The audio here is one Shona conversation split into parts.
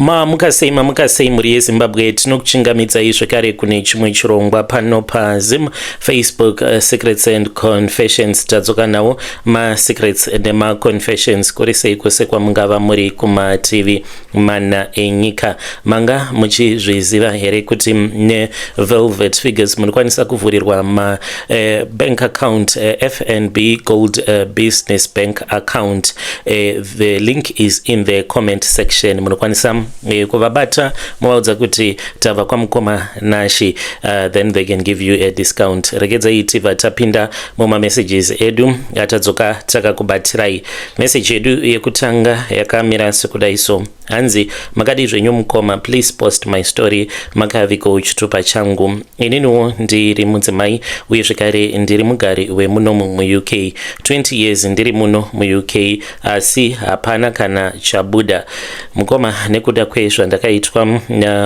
Mamuka sei mamuka sei mhuri yezimbabwe tinokuchingamidzai zvekare kune chimwe chirongwa pano pazim facebook uh, secrets and confessions tadzoka nawo masecrets nemaconfessions kuri sei kwose kwamungava muri kumativi mana enyika manga muchizviziva here kuti nevelvet figures munokwanisa kuvhurirwa uh, bank account uh, fnb gold uh, business bank account uh, the link is in the comment section munokwanisa uh, kuvabata movaudza kuti tava kwamukoma nashi uh, then they can give you a discount regedzai tiva tapinda mumamessages edu atadzoka takakubatsirai message yedu yekutanga yakamira sekudai so hanzi makadii zvenyu mukoma please post my story makaviko chitupa changu ininiwo ndiri mudzimai uye zvekare ndiri mugari wemuno muuk 20 years ndiri muno muuk asi hapana kana chabuda mukoma nekuda kwezvandakaitwa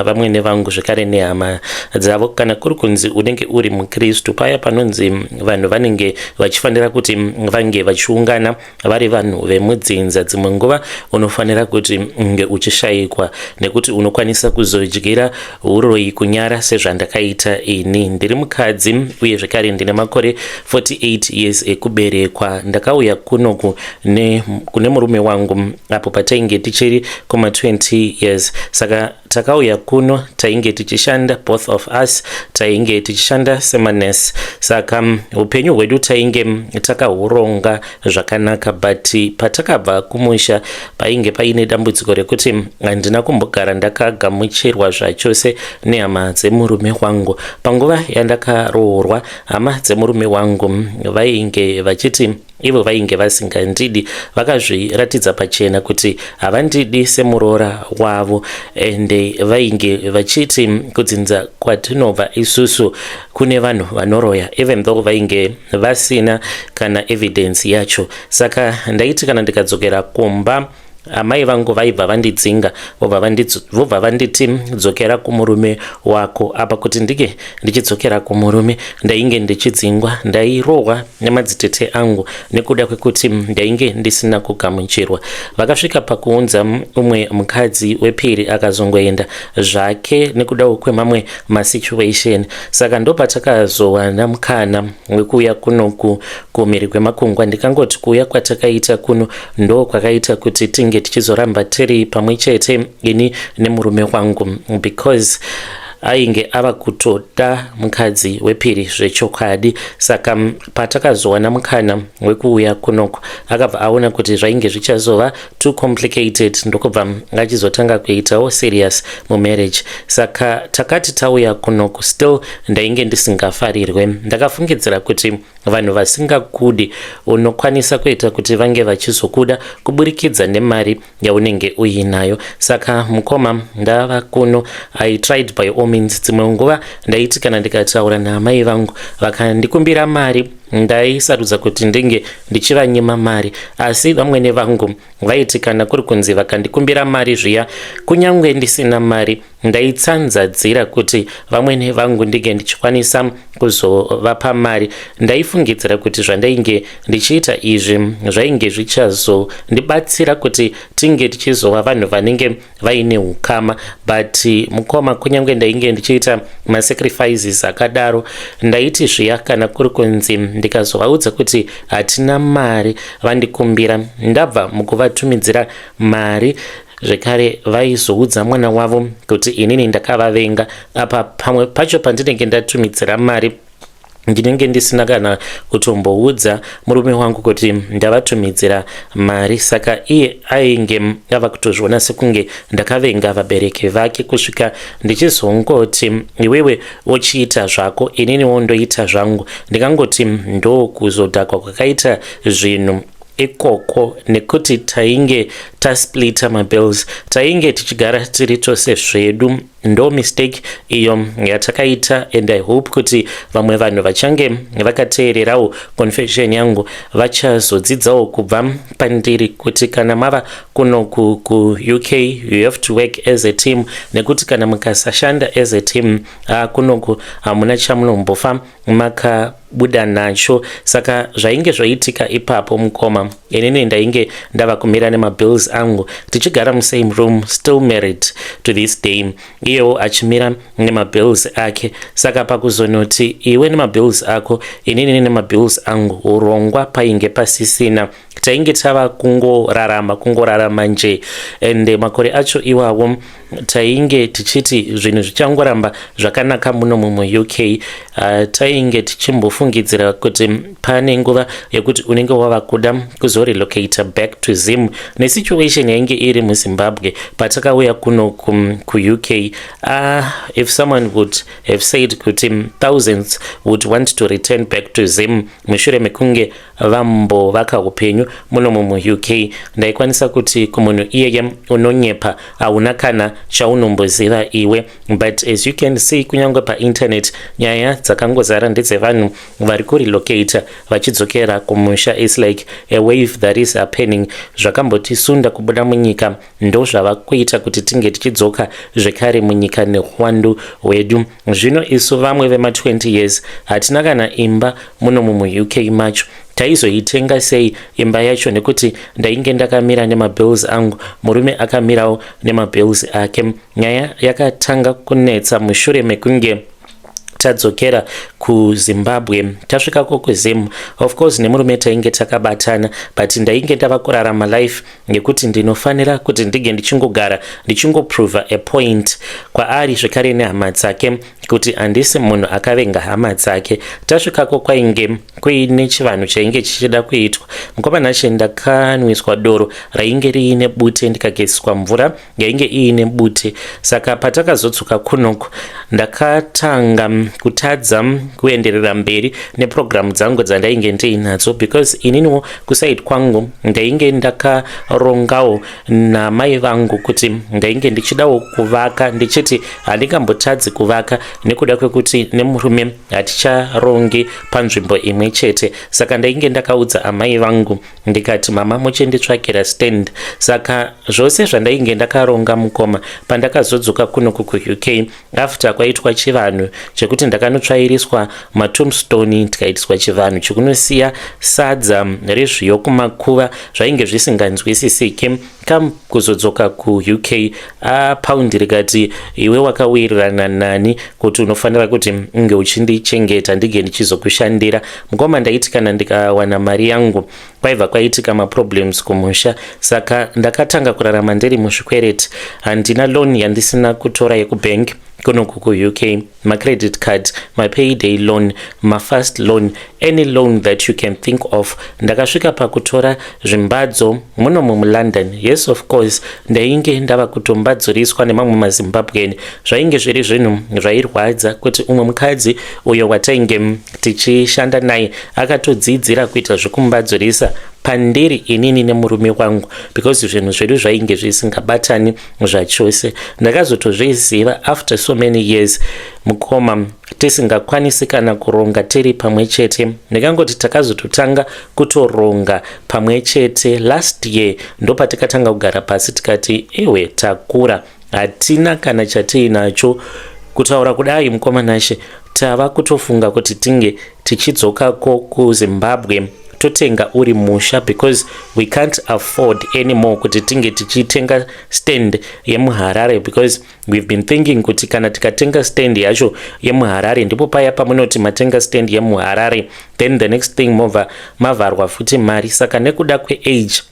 vamwene vangu zvekare nehama dzavo kana kuri kunzi unenge uri mukristu paya panonzi vanhu vanenge vachifanira kuti vange vachiungana vari vanhu vemudzinza dzimwe nguva unofanira kuti nge uchishayikwa nekuti unokwanisa kuzodyira uroyi kunyara sezvandakaita ini ndiri mukadzi uye zvekare ndine makore 48 years ekuberekwa ndakauya kunoku kune murume wangu apo patainge tichiri kuma 20 years saka takauya kuno tainge tichishanda both of us tainge tichishanda semanurse saka mm, upenyu hwedu tainge mm, takahuronga zvakanaka but patakabva kumusha painge paine dambudziko rekuti mm, handina kumbogara ndakagamuchirwa zvachose nehama dzemurume wangu panguva yandakaroorwa hama dzemurume wangu vainge vachiti ivo vainge vasingandidi vakazviratidza pachena kuti havandidi semuroora wavo ende vainge vachiti kudzinza kwatinobva isusu kune vanhu vanoroya even though vainge vasina kana evidence yacho saka ndaiti kana ndikadzokera kumba amai vangu vaibva vandidzinga vobva vanditi dzokera kumurume wako apa kuti ndike ndichidzokera kumurume ndainge ndichidzingwa ndairohwa nemadzitete angu nekuda kwekuti ndainge ndisina kugamuchirwa vakasvika pakuunza umwe mukadzi wepiri akazongoenda zvake nekudawo kwemamwe masituation saka ndopatakazowana mukana wekuuya kunoku kumhiri kwemakungwa ndikangoti kuuya kwatakaita kuno ndo kwakaita kuti tinge tichizoramba tiri pamwe chete ini nemurume wangu because ainge ava kutoda mukadzi wepiri zvechokwadi saka patakazowana mukana wekuuya kunoko akabva aona kuti zvainge zvichazova too complicated ndokubva achizotanga kuitawo serious mumarriage saka takati tauya kunoko still ndainge ndisingafarirwe ndakafungidzira kuti Vanhu vasingakude unokwanisa kuita kuti vange vachizokuda kuburikidza nemari yaunenge uinayo. Saka mukoma ndava kuno, I tried by all means. Dzimwe nguva ndaiti kana ndikataura naamai vangu vakandikumbira mari ndaisarudza kuti ndenge ndichivanyima mari asi vamwene vangu vaiti kana kuri kunzi vakandikumbira mari zviya kunyange ndisina mari Ndaitsanzadzira kuti vamwene vangu ndinge ndichikwanisa kuzovapa mari. Ndaifungidzira kuti zvandainge ndichiita izvi zvainge zvichazondibatsira kuti tinge tichizova vanhu vanenge vaine ukama. But mukoma, kunyange ndainge ndichiita masacrifices akadaro, ndaiti zviya kana kuri kunzi ndikazovaudza kuti hatina mari vandikumbira ndabva mukuvatumidzira mari zvekare vaizoudza mwana wavo kuti inini ndakavavenga apa pamwe pacho pandinenge ndatumidzira mari ndinenge ndisina kana kutomboudza murume wangu kuti ndavatumidzira mari saka iye ainge ava kutozviona sekunge ndakavenga vabereki vake kusvika ndichizongoti iwewe uchiita zvako inini wondoita zvangu ndikangoti ndokuzodhakwa kwakaita zvinhu ikoko nekuti tainge tasplita mabills tainge tichigara tiri tose zvedu ndo mistake iyo yatakaita and i hope kuti vamwe vanhu vachange vakateererawo confession yangu vachazodzidzawo kubva pandiri kuti kana mava kuno kuuk you have to work as a team nekuti kana mukasashanda as a team haa kunoku hamuna chamunombofa makabuda nacho saka zvainge zvoitika ipapo mukoma inini ndainge ndava kumira nemabills angu tichigara musame room still married to this day iyewo achimira nemabills ake saka pakuzonoti iwe nemabills ako inini nemabills angu urongwa painge pasisina tainge tava kungorarama kungorarama nje and makore acho iwawo tainge tichiti zvinhu zvichangoramba zvakanaka muno mumwe uk uh, tainge tichimbofungidzira kuti pane nguva yekuti unenge wava kuda kuzorelocator back to zim nesituation yainge iri muzimbabwe patakauya kuno kuuk uh, ah, if someone would have said kuti thousands would want to return back to zim mushure mekunge vambo vaka upenyu munomu muuk ndaikwanisa kuti kumunhu iyeye unonyepa hauna kana chaunomboziva iwe but as you can see kunyange painternet nyaya dzakangozara ndedzevanhu vari kurelocate vachidzokera kumusha is like a wave that is happening zvakambotisunda kubuda munyika ndozvava kuita kuti tinge tichidzoka zvekare munyika nehwandu hwedu zvino isu vamwe vema 20 years hatina kana imba muno mumuuk macho taizoitenga sei imba yacho nekuti ndainge ndakamira nemabills angu murume akamirawo nemabills ake nyaya yakatanga kunetsa mushure mekunge tadzokera kuzimbabwe tasvika ko kuzim of course nemurume tainge takabatana but ndainge ndava kurarama life nekuti ndinofanira kuti ndinge ndichingogara ndichingoprova a point kwaari zvekare nehama dzake kuti handisi munhu akavenga hama dzake tasvikako kwainge kuine chivanhu chainge chichida kuitwa mukomana che ndakanwiswa doro rainge riine bute ndikagesiswa mvura yainge iine bute saka patakazodzoka kunoku ndakatanga kutadza kuenderera mberi nepurogiramu dzangu dzandainge ndiinadzo because ininiwo kusaid kwangu ndainge ndakarongawo namai vangu kuti ndainge ndichidawo kuvaka ndichiti handingambotadzi kuvaka nekuda kwekuti nemurume haticharongi panzvimbo imwe chete saka ndainge ndakaudza amai vangu ndikati mama muchinditsvakira stand saka zvose zvandainge ndakaronga mukoma pandakazodzoka kuno kukuuk after kwaitwa chivanhu chekuti ndakanotsvairiswa matombstone ndikaitiswa chivanhu chekunosiya sadza rezviyo kumakuva zvainge zvisinganzwisisiki Come kuzodzoka kuUK ah, paundi rikati iwe wakawirirana nani kuti unofanira kuti unge uchindichengeta ndige ndichizokushandira mukoma. Ndaiti kana ndikawana mari yangu kwaiva kwaitika maproblems kumusha, saka ndakatanga kurarama ndiri muzvikwereti. Handina loan yandisina kutora yekubank kunoku kuUK. macredit card mapayday loan mafast loan any loan that you can think of ndakasvika pakutora zvimbadzo muno mumulondon yes of course ndainge ndava kutombadzuriswa nemamwe mazimbabwen zvainge zviri zvinhu zvairwadza kuti umwe mukadzi uyo watainge tichishanda naye akatodzidzira kuita zvekumbadzurisa pandiri inini nemurume wangu because zvinhu zvedu zvainge zvisingabatani zvachose ndakazotozviziva after so many years mukoma tisingakwanisi kana kuronga tiri pamwe chete ndikangoti takazototanga kutoronga pamwe chete last year ndopatikatanga kugara pasi tikati iwe takura hatina kana chatiinacho kutaura kudai mukoma nashe tava kutofunga kuti tinge tichidzoka ko kuzimbabwe totenga uri musha because we can't afford anymore kuti tinge tichitenga stand yemuharare because we've been thinking kuti kana tikatenga stand yacho yemuharare ndipo paya pamunoti matenga stand yemuharare then the next thing mova mavharwa futi mari saka nekuda kweage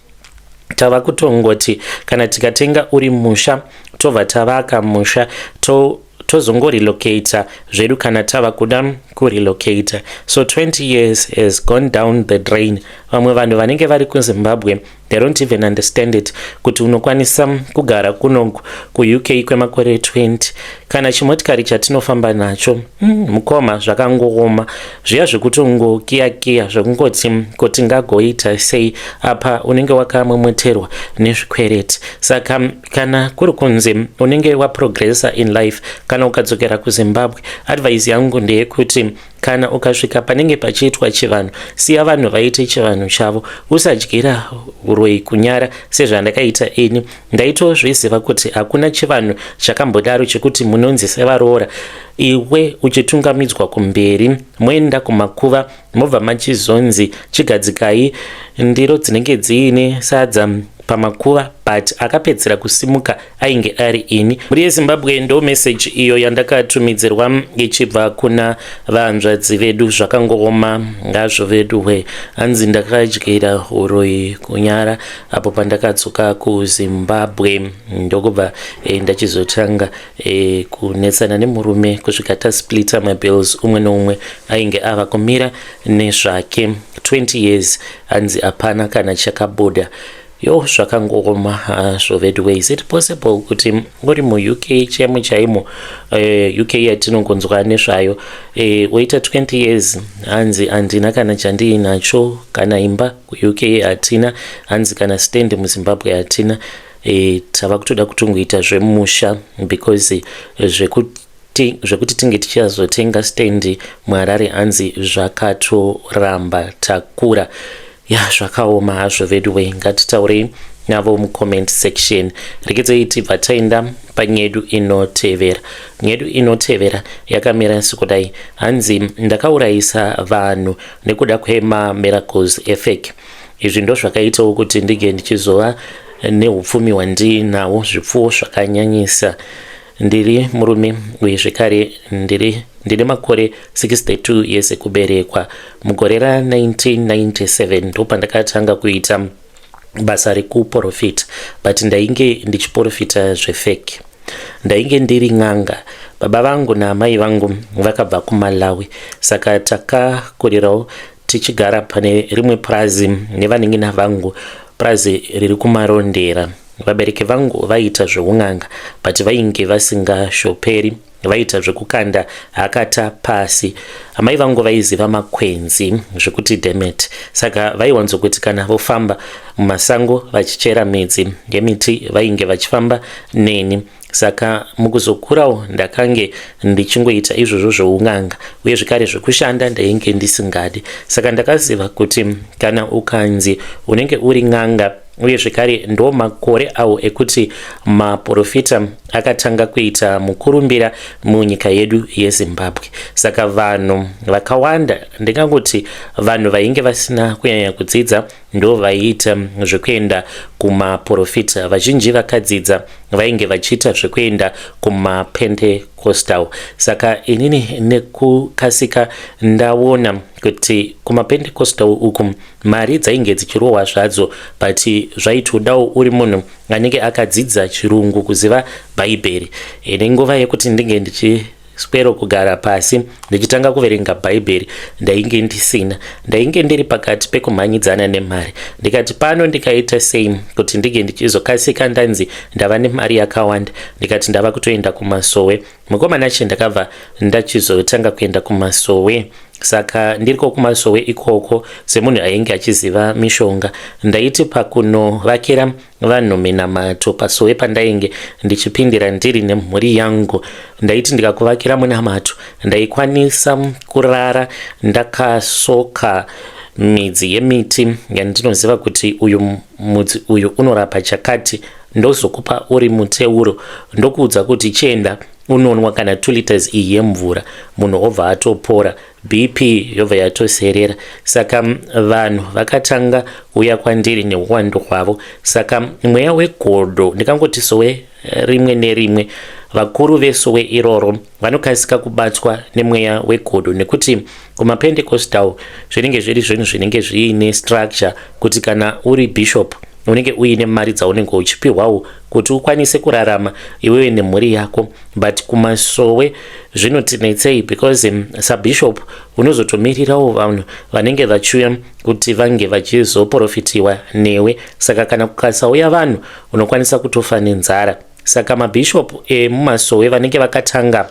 tava kutongoti kana tikatenga uri musha tobva tavaka musha to tozongorelocator zvedu kana tava kuda kurelocator so 20 years has gone down the drain vamwe vanhu vanenge vari kuzimbabwe they don't even understand it kuti unokwanisa kugara kuno kuuk kwemakore 20 kana chimotikari chatinofamba nacho mm, mukoma zvakangooma zviya zvekutongokiyakiya zvekungoti kuti ngagoita sei apa unenge wakamwemweterwa nezvikwereti saka kana kuri kunzi unenge waprogressa in life kana ukadzokera kuzimbabwe advise yangu ndeyekuti kana ukasvika panenge pachiitwa chivanhu siya vanhu vaite chivanhu chavo usadyira uroyi kunyara sezvandakaita ini ndaitozviziva kuti hakuna chivanhu chakambodaro chekuti munonzi sevaroora iwe uchitungamidzwa kumberi moenda kumakuva mobva machizonzi chigadzikai ndiro dzinenge dziine sadza pamakuva but akapedzera kusimuka ainge ari ini mhuri yezimbabwe ndo meseji iyo yandakatumidzirwa ichibva kuna vahanzvadzi vedu zvakangooma ngazvo vedu hwe hanzi ndakadyira uroyi kunyara apo pandakadzoka kuzimbabwe ndokubva e, ndachizotanga E, kunetsana nemurume kusvika tasplita mabills umwe neumwe ainge ava kumira nezvake 20 years hanzi hapana kana chakabuda yo zvakangooma hazvo veduwe is it possible kuti uri muuk chemo chaimo eh, uk yatinongonzwa nezvayo eh, woita 20 years hanzi handina kana chandiinacho kana imba kuuk hatina hanzi kana stand muzimbabwe hatina e, tava kutoda kutongoita zvemusha because zvekuti zvekuti tinge tichazotenga stand muharare hanzi zvakatoramba takura ya zvakaoma hazvo veduwe ngatitaurei navo mucomment section rekedzei tibva taenda panyedu inotevera nyedu inotevera yakamira sekudai hanzi ndakaurayisa vanhu nekuda kwemamiracles efake izvi ndozvakaitawo kuti ndige ndichizova neupfumi hwandiinawo zvipfuwo zvakanyanyisa ndiri murume uye zvekare ndiri ndine makore 62 years ekuberekwa mugore ra1997 ndopandakatanga kuita basa rekuprofita but ndainge ndichiprofita zvefeki ndainge ndiri n'anga baba vangu naamai vangu vakabva kumalawi saka takakurirawo tichigara pane rimwe purazi nevanin'ina vangu purazi riri kumarondera vabereki vangu vaiita zveun'anga but vainge vasingashoperi vaiita zvekukanda hakata pasi amai vangu vaiziva makwenzi zvekuti demet saka vaiwanzokuti kana vofamba mumasango vachichera midzi yemiti vainge vachifamba neni saka mukuzokurawo ndakange ndichingoita izvozvo zvoun'anga uye zvekare zvekushanda ndainge ndisingadi saka ndakaziva kuti kana ukanzi unenge uri n'anga uye zvekare ndo makore awo ekuti maprofita akatanga kuita mukurumbira munyika yedu yezimbabwe saka vanhu vakawanda ndingangoti vanhu vainge vasina kunyanya kudzidza ndovaiita zvekuenda kumaporofita vazhinji vakadzidza vainge vachiita zvekuenda kumapentecostal saka inini nekukasika ndaona kuti kumapentecostal uku mari dzainge dzichirohwa zvadzo but zvaitodawo uri munhu anenge akadzidza chirungu kuziva bhaibheri ine nguva yekuti ndinge ndichi Squero kugara pasi ndichitanga kuverenga bhaibheri ndainge ndisina ndainge ndiri pakati pekumhanyidzana nemari ndikati pano ndikaita sei kuti ndinge ndichizokasika ndanzi ndava nemari yakawanda ndikati ndava kutoenda kumasowe mukomana che ndakabva ndachizotanga kuenda kumasowe saka ndiriko kumasowe ikoko semunhu ainge achiziva mishonga ndaiti pakunovakira vanhu minamato pasowe pandainge ndichipindira ndiri nemhuri yangu ndaiti ndikakuvakira munamato ndaikwanisa kurara ndakasoka midzi yemiti yandinoziva kuti uyu mudzi uyu unorapa chakati ndozokupa uri muteuro ndokuudza kuti chienda unonwa kana 2 liters iyi yemvura munhu obva atopora BP yobva yatoserera. Saka vanhu vakatanga uya kwandiri neuwandu hwavo. Saka mweya wegodo ndikangoti sowe eh, rimwe nerimwe vakuru vesowe iroro vanokasika kubatwa nemweya wegodo nekuti kumapendecostal zvinenge zviri zvinhu zvinenge zviine structure kuti kana uri bishop unenge uine mari dzaunenge uchipiwawo kuti ukwanise kurarama iwewe nemhuri yako but kumasowe zvinotinetsei because um, sabishop unozotomirirawo vanhu vanenge vachiuya kuti vange vachizoprofitiwa newe saka kana kukasauya vanhu unokwanisa kutofa nenzara saka mabishop emumasowe vanenge vakatanga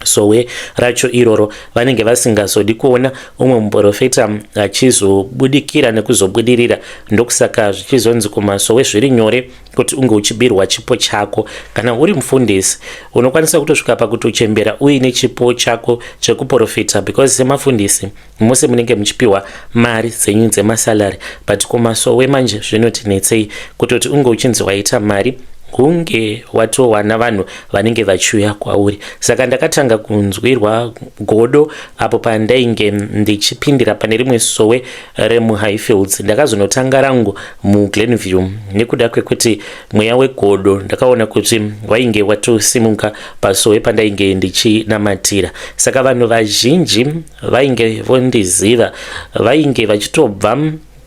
sowe racho iroro vanenge vasingazodi kuona umwe muprofita achizobudikira nekuzobudirira ndokusaka zvichizonzi kumasowe zviri nyore kuti unge uchibirwa chipo chako kana uri mufundisi unokwanisa kutosvika pakutochembera uine chipo chako chekuprofita because semafundisi mose munenge muchipiwa mari dzenyu dzemasalary but kumasowe manje zvinotinetsei kutoti unge uchinzi waita mari hunge watowana vanhu vanenge vachiuya kwauri saka ndakatanga kunzwirwa godo apo pandainge ndichipindira pane rimwe sowe remuhighfields ndakazonotanga rangu muglenview nekuda kwekuti mweya wegodo ndakaona kuti wainge watosimuka pasowe pandainge ndichinamatira saka vanhu vazhinji vainge vondiziva vainge vachitobva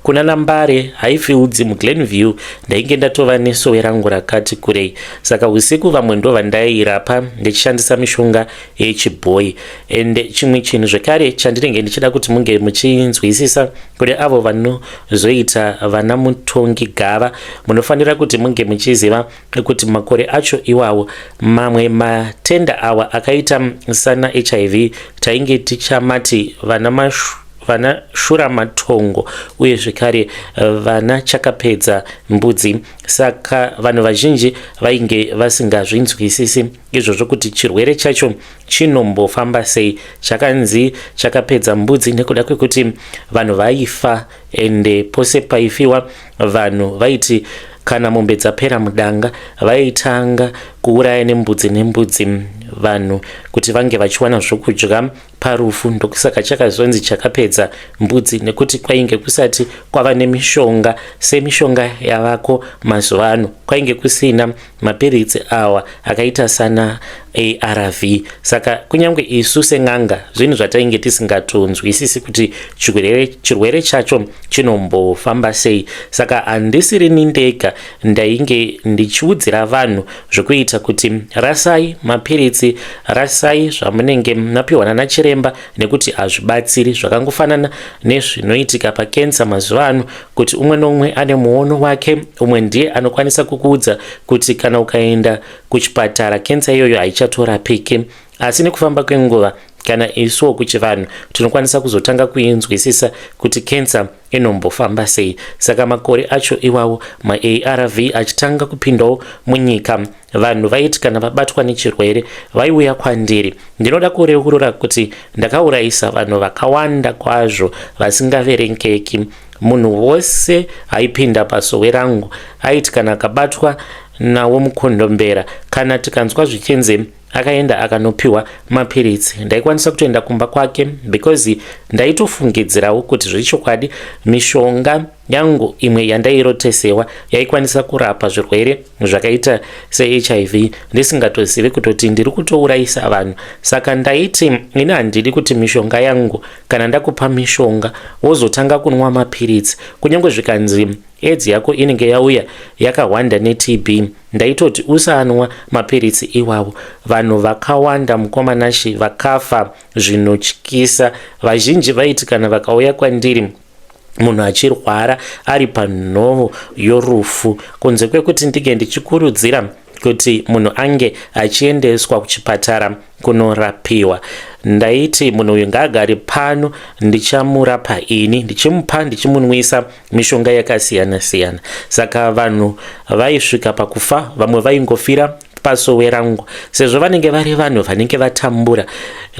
kuna nambare haifi udzi muglenview ndainge ndatova nesowe rangu rakati kurei saka usiku vamwe ndo vandairapa ndichishandisa mishonga yechibhoyi ende chimwe chinhu zvekare chandinenge ndichida kuti munge muchinzwisisa kune avo vanozoita vana mutongi gava munofanira kuti munge muchiziva kuti makore acho iwawo mamwe matenda awa akaita sana hiv tainge tichamati vana mashu vana shura matongo uye zvekare eh, vana chakapedza mbudzi saka vanhu vazhinji vainge vasingazvinzwisisi izvozvo kuti chirwere chacho chinombofamba sei chakanzi chakapedza mbudzi nekuda kwekuti vanhu vaifa ende pose paifiwa vanhu vaiti kana mombe dzapera mudanga vaitanga kuuraya nembudzi nembudzi vanhu kuti vange vachiwana zvokudya parufu ndokusaka chakazonzi chakapedza mbudzi nekuti kwainge kusati kwava nemishonga semishonga yavako mazuva ano kwainge kusina mapiritsi awa akaita sana arv saka kunyange isu sen'anga zvinhu zvatainge tisingatonzwisisi kuti chirwere chacho chinombofamba sei saka handisirini ndega ndainge ndichiudzira vanhu zvekuita kuti rasai mapiritsi rasai zvamunenge mapiwa nana chiremba nekuti hazvibatsiri zvakangofanana nezvinoitika pakensa mazuva ano kuti umwe nomwe ane muono wake umwe ndiye anokwanisa kukuudza kuti kana ukaenda kuchipatara kensa iyoyo haichatorapiki asi nekufamba kwenguva kana isuwo kuchivanhu tinokwanisa kuzotanga kuinzwisisa kuti kensa inombofamba sei saka makore acho iwawo maarv achitanga kupindawo munyika vanhu vaiti kana vabatwa nechirwere vaiuya kwandiri ndinoda kureurura kuti ndakaurayisa vanhu vakawanda kwazvo vasingaverengeki munhu wose aipinda pasowe rangu aiti kana akabatwa nawo mukondombera kana tikanzwa zvichinzi akaenda akanopiwa mapiritsi ndaikwanisa kutoenda kumba kwake because ndaitofungidzirawo kuti zvechokwadi mishonga Yangu imwe yandairotesewa yaikwanisa kurapa zvirwere zvakaita seHIV ndisingatozivi kutoti ndiri kutourayisa vanhu. Saka ndaiti ini handidi kuti mishonga yangu kana ndakupa mishonga wozotanga kunwa mapiritsi kunyange zvikanzi edzi yako inenge yauya yakahwanda neTB. Ndaitoti usanwa mapiritsi iwawo. Vanhu vakawanda mukoma Nashi vakafa zvinotyisa. Vazhinji vaiti kana vakauya kwandiri munhu achirwara ari panhovo yorufu kunze kwekuti ndinge ndichikurudzira kuti munhu ange achiendeswa kuchipatara kunorapiwa ndaiti munhu uyu ngaagari pano ndichamurapa ini ndichimupa ndichimunwisa mishonga yakasiyana siyana saka vanhu vaisvika pakufa vamwe vaingofira pasowe rangu sezvo vanenge vari vanhu vanenge vatambura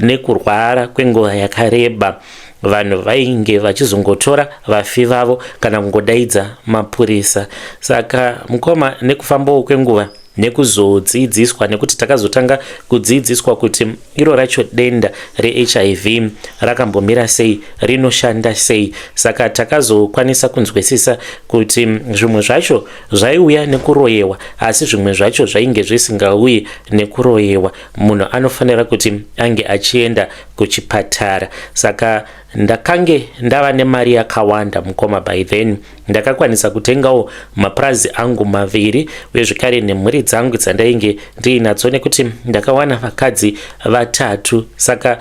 nekurwara kwenguva yakareba vanhu vainge vachizongotora vafi vavo kana kungodaidza mapurisa saka mukoma nekufambawo kwenguva nekuzodzidziswa nekuti takazotanga kudzidziswa kuti iro racho denda rehiv rakambomira sei rinoshanda sei saka takazokwanisa kunzwisisa kuti zvimwe zvacho zvaiuya nekuroyewa asi zvimwe zvacho zvainge zvisingauyi nekuroyewa munhu anofanira kuti ange achienda kuchipatara saka ndakange ndava nemari yakawanda mukoma by then ndakakwanisa kutengawo mapurazi angu maviri uye zvekare nemhuri dzangu dzandainge ndiinatso nekuti ndakawana vakadzi vatatu saka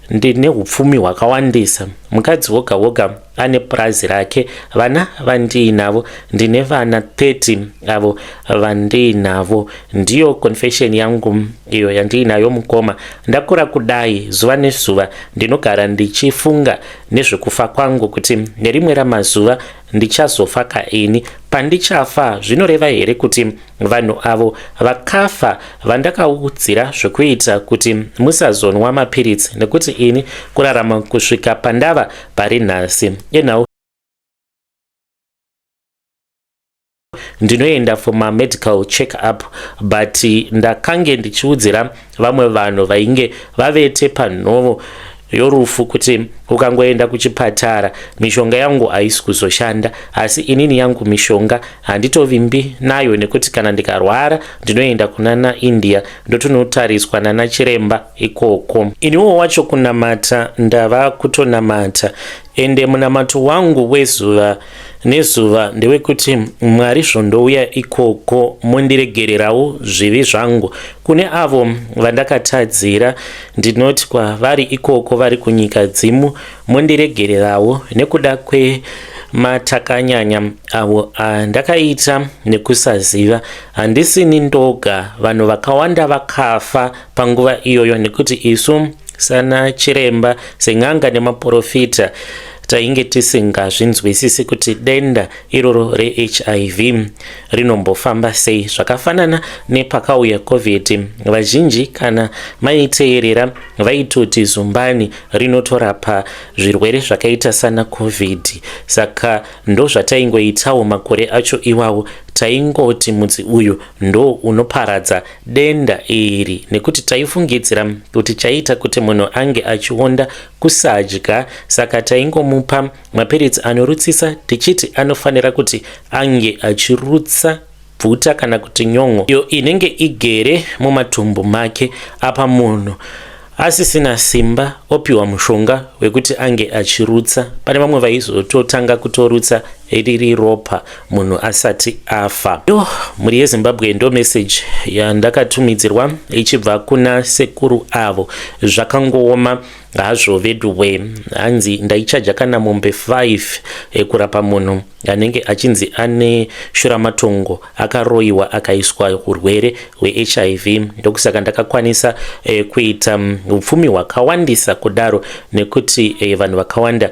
ndine upfumi hwakawandisa mukadzi woga woga ane purazi rake vana vandiinavo ndine vana 30 avo vandiinavo ndiyo confession yangu iyo yandiinayo mukoma ndakura kudai zuva nezuva ndinogara ndichifunga nezvekufa kwangu kuti nerimwe ramazuva ndichazofa ka ini pandichafa zvinoreva here kuti vanhu avo vakafa vandakaudzira zvekuita kuti musazonwa mapiritsi nekuti ini kurarama kusvika pandava pari nhasi enhau ndinoenda for mamedical check up but ndakange ndichiudzira vamwe vanhu vainge vavete panhovo yorufu kuti ukangoenda kuchipatara mishonga yangu haisi kuzoshanda asi inini yangu mishonga handitovimbi nayo nekuti kana ndikarwara ndinoenda kunana india ndotonotariswa nana chiremba ikoko iniwo wacho kunamata ndava kutonamata ende munamato wangu wezuva nezuva ndewekuti mwari zvondouya ikoko mondiregererawo zvivi zvangu kune avo vandakatadzira ndinoti kwavari ikoko vari kunyika dzimu mondiregererawo nekuda kwematakanyanya avo andakaita nekusaziva handisini ndoga vanhu vakawanda vakafa panguva iyoyo nekuti isu sana chiremba sen'anga nemaporofita tainge tisingazvinzwisisi kuti denda iroro rehiv rinombofamba sei zvakafanana nepakauya covid vazhinji kana maiteerera vaitoti zumbani rinotorapa zvirwere zvakaita sana covid saka ndozvataingoitawo makore acho iwawo taingoti mudzi uyu ndo unoparadza denda iri nekuti taifungidzira kuti chaita kuti munhu ange achionda kusadya saka taingomupa mapiritsi anorutsisa tichiti anofanira kuti ange achirutsa bvuta kana kuti nyon'o iyo inenge igere mumatumbu make apa munhu asisina simba opiwa mushonga wekuti ange achirutsa pane vamwe vaizototanga kutorutsa riri ropa munhu asati afa yo mhuri yezimbabwe ndo message yandakatumidzirwa ichibva kuna sekuru avo zvakangooma hazvo veduwe hanzi ndaichaja kana mombe 5 ekurapa munhu anenge achinzi ane shuramatongo akaroyiwa akaiswa urwere hwehiv ndokusaka ndakakwanisa eh, kuita mm, upfumi hwakawandisa kudaro nekuti eh, vanhu vakawanda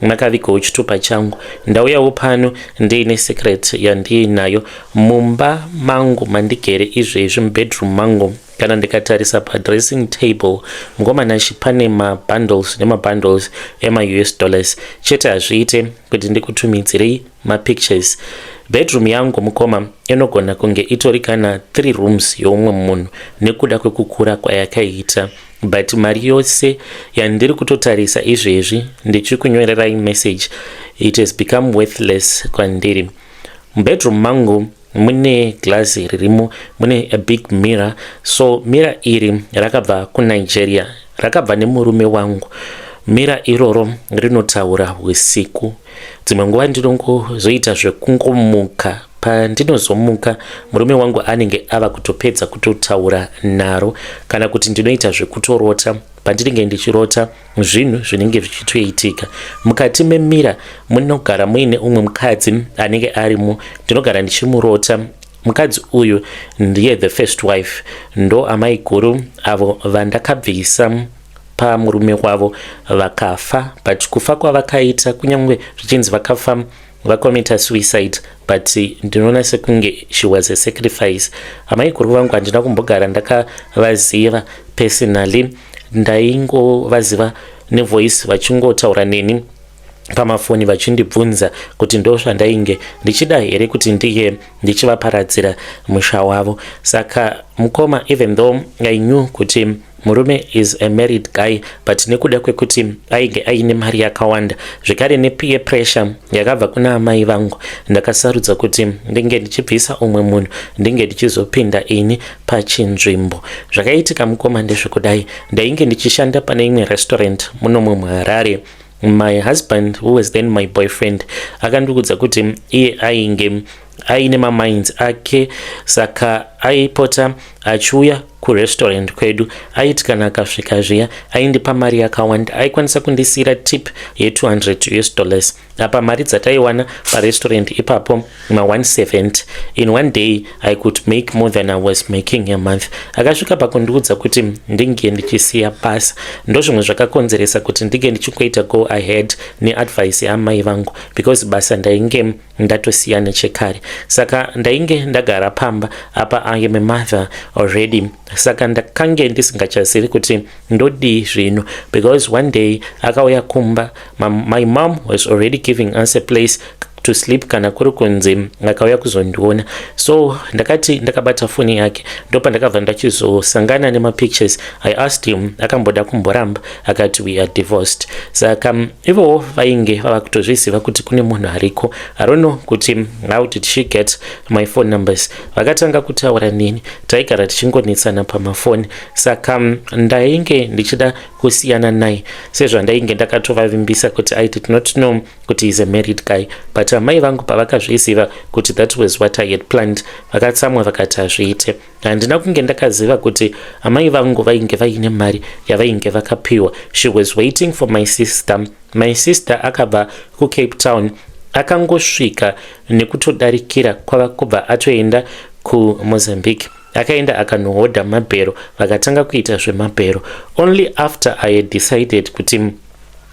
makavigawo chitupa changu ndauyawo pano ndiine secret yandiinayo mumba mangu mandigere izvezvi mubedroom mangu kana ndikatarisa padressing table ngomanashi pane mabundles nemabundles emaus dollars chete hazviite kuti ndikutumidzirei mapictures bedroom yangu mukoma inogona kunge itori kana three rooms youmwe munhu nekuda kwekukura kwayakaita but mari yose yandiri kutotarisa izvezvi ndichikunyorerai message it has become worthless kwandiri mubedroom mangu mune glass ririmo mune a big mirror so mirror iri rakabva kunigeria rakabva nemurume wangu mirror iroro rinotaura usiku dzimwe nguva ndinongozoita zvekungomuka pandinozomuka murume wangu anenge ava kutopedza kutotaura naro kana kuti ndinoita zvekutorota pandinenge ndichirota zvinhu zvinenge zvichitoitika mukati memira munogara muine umwe mukadzi anenge arimo ndinogara ndichimurota mukadzi uyu ndiye the first wife ndo amai guru avo vandakabvisa pamurume wavo vakafa but kufa kwavakaita kunyange zvichinzi vakafa vakomita suicide but ndinoona sekunge she was a sacrifice amai guru vangu handina kumbogara ndakavaziva personally ndaingovaziva nevoice vachingotaura neni pamafoni vachindibvunza kuti ndo zvandainge ndichida here kuti ndiye ndichivaparadzira musha wavo saka mukoma even though i knew kuti Murume is a married guy but nekuda kwekuti ainge aine mari yakawanda zvekare nepeer pressure yakabva kuna amai vangu ndakasarudza kuti ndinge ndichibvisa umwe munhu ndinge ndichizopinda ini pachinzvimbo. Zvakaitika mukoma ndezvekudai ndainge ndichishanda pane imwe restaurant muno muHarare. My husband who was then my boyfriend akandiudza kuti iye ainge aine mamainds ake saka aipota achiuya kurestaurant kwedu aiti kana akasvika zviya aindipa mari yakawanda aikwanisa kundisiyira tip ye200 us dollars apa mari dzataiwana parestaurant ipapo ma170 in one day i could make more than i was making a month akasvika pakundiudza kuti ndinge ndichisiya basa ndozvimwe zvakakonzeresa kuti ndinge ndichingoita go ahead neadvice yaamai vangu because basa ndainge ndatosiya nechekare saka ndainge ndagara pamba apa i am a mother already saka ndakange ndisingachazivi kuti ndodii zvino because one day akauya kumba my mom was already giving us a place to sleep kana kuri kunzi akauya kuzondiona so ndakati ndakabata foni yake ndopandakabva ndachizosangana nemapictures i asked him akamboda kumboramba akati we are divorced saka mm, ivowo vainge vava kutozviziva kuti kune munhu ariko arono kuti mm, how did she get my phone numbers vakatanga kutaura nini taigara tichingonetsana pamafoni saka mm, ndainge ndichida kusiyana naye sezvandainge ndakatovavimbisa kuti i did not know kuti is a married guy but amai vangu pavakazviziva kuti that was what i had planned vakatsamwa vakati hazviite handina kunge ndakaziva kuti amai vangu vainge vaine mari yavainge vakapiwa she was waiting for my sister my sister akabva kucape town akangosvika nekutodarikira kwava kubva atoenda kumozambique akaenda akanohodha mabhero vakatanga kuita zvemabhero only after i had decided kuti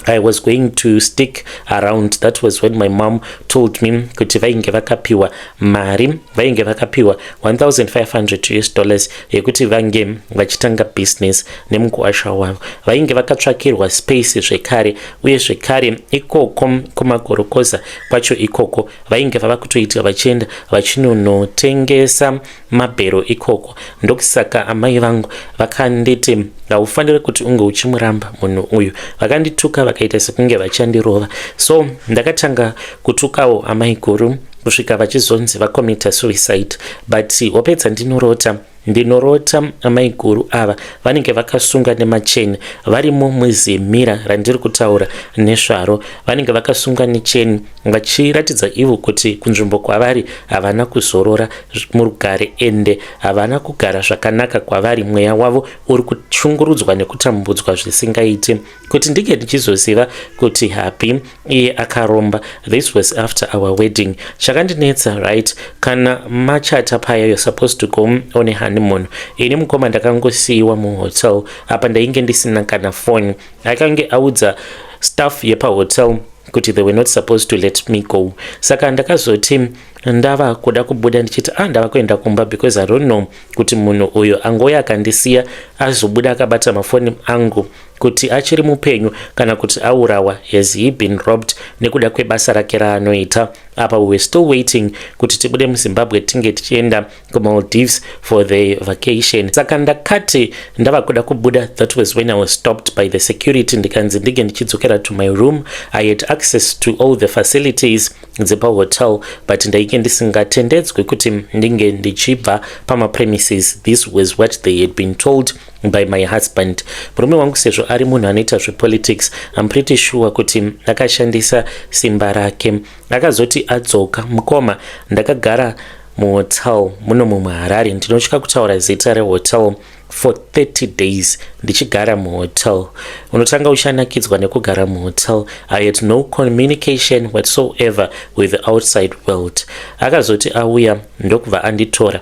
I was going to stick around that was when my mom told me kuti vainge vakapiwa mari vainge vakapiwa 1500 us dollars yekuti vange vachitanga business nemukuwasha wavo vainge vakatsvakirwa space zvekare uye zvekare ikoko kumagorokoza kwacho ikoko vainge vava kutoita vachienda vachinonotengesa mabhero ikoko ndokusaka amai vangu vakanditi haufanire kuti unge uchimuramba munhu uyu vakandituka vakaita sekunge vachandirova so ndakatanga kutukawo amai guru kusvika vachizonzi vakomita suicide but hope dzandinorota ndinorota amai guru ava vanenge vakasunga nemacheni varimo muzimira randiri kutaura nesvaro vanenge vakasunga necheni vachiratidza ivo kuti kunzvimbo kwavari havana kuzorora murugare ende havana kugara zvakanaka kwavari mweya wavo uri kushungurudzwa nekutambudzwa zvisingaiti kuti ndinge ndichizoziva kuti happy iye akaromba this was after our wedding chakandinetsa right kana machata paya you're supposed to go on a honeymoon ini mukoma ndakangosiyiwa muhotel apa ndainge ndisina kana foni akange audza staff yepahotel kuti they were not supposed to let me go saka ndakazoti ndava kuda kubuda ndichiti ah ndava kuenda kumba because i don't know kuti munhu uyo angouye akandisiya azobuda akabata mafoni angu kuti achiri mupenyu kana kuti aurawa has he been robbed nekuda kwebasa rake raanoita apa we were still waiting kuti tibude muzimbabwe tinge tichienda kumaldives for the vacation saka ndakati ndava kuda kubuda that was when i was stopped by the security ndikanzi ndinge ndichidzokera to my room i had access to all the facilities dzepahotel but ndainge ndisingatendedzwe kuti ndinge ndichibva pamapremises this was what they had been told by my husband murume wangu sezvo ari munhu anoita zvepolitics im pretty sure kuti akashandisa simba rake akazoti adzoka mukoma ndakagara muhotel muno mumwe harare ndinotya kutaura zita rehotel for 30 days ndichigara muhotel unotanga uchanakidzwa nekugara muhotel i had no communication whatsoever with the outside world akazoti auya ndokubva anditora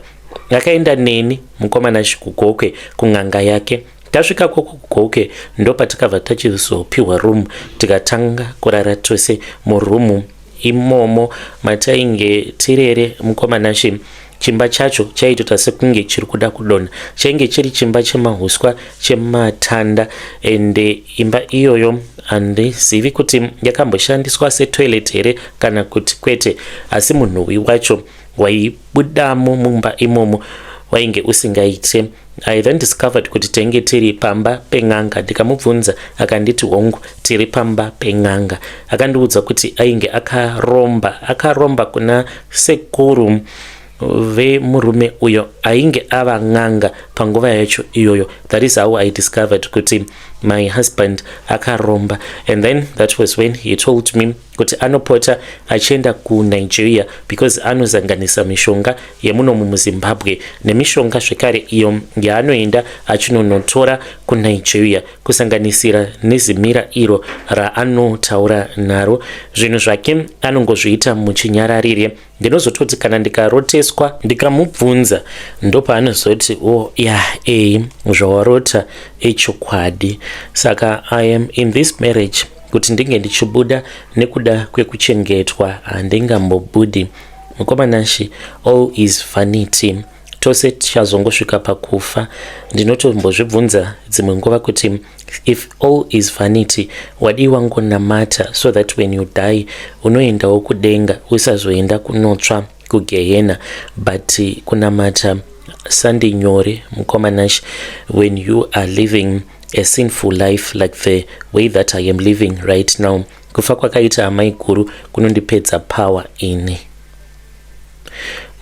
akaenda neni mukomana chikugokwe kun'anga yake tasvika kwoko kugoke ndopatakabva tachizopihwa room tikatanga kurara tose muroom imomo matainge tirere mukomanashe chimba chacho chaitota sekunge chiri kuda kudonha chainge chiri chimba chemahuswa chematanda ende imba iyoyo handizivi kuti yakamboshandiswa setoilet here kana kuti kwete asi munhuwi wacho waibudamo mumba imomo wainge usingaite I then discovered kuti tenge tiri pamba pen'anga ndikamubvunza akanditi hongu tiri pamba pen'anga akandiudza kuti ainge akaromba akaromba kuna sekuru vemurume uyo ainge ava n'anga panguva yacho iyoyo that is how i discovered kuti my husband akaromba and then that was when he told me kuti anopota achienda kunigeria because anozanganisa mishonga yemunomu muzimbabwe nemishonga zvekare iyo yaanoenda achinonotora kunigeria kusanganisira nezimira iro raanotaura naro zvinhu zvake anongozviita muchinyararire ndinozototi kana ndikaroteswa ndikamubvunza ndopaanozoti o oh, ya yeah, e eh, zvawarota echokwadi saka i am in this marriage kuti ndinge ndichibuda nekuda kwekuchengetwa handingambobudi mukomanashi all is vanity tose tichazongosvika pakufa ndinotombozvibvunza dzimwe nguva kuti if all is vanity wadii wangonamata so that when you die unoendawo kudenga usazoenda kunotsva kugehena but kunamata sandi nyore mukoma nash when you are living a sinful life like the way that i am living right now kufa kwakaita amai guru kunondipedza power ini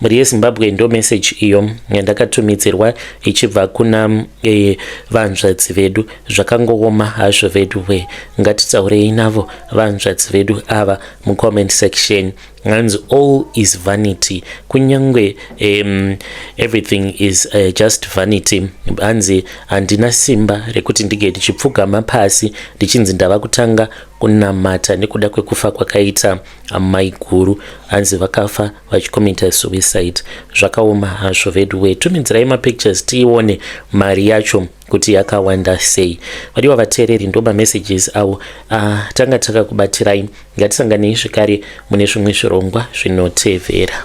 mhuri yezimbabwe ndo message iyo yandakatumidzirwa ichibva kuna e, vanzvadzi vedu zvakangooma hazvo vedu we ngatitaurei navo vanzvadzi vedu ava mucomment section hanzi all is vanity kunyange um, everything is uh, just vanity hanzi handina simba rekuti ndinge ndichipfugama pasi ndichinzi ndava kutanga kunamata nekuda kwekufa kwakaita amaiguru hanzi vakafa vachikomita suicide zvakaoma hazvo veduwe tumidzirai mapictures tiione mari yacho kuti yakawanda sei vadiwa vateereri ndo mamessages avo ah, tanga takakubatsirai ngatisanganei zvekare mune zvimwe zvirongwa zvinotevera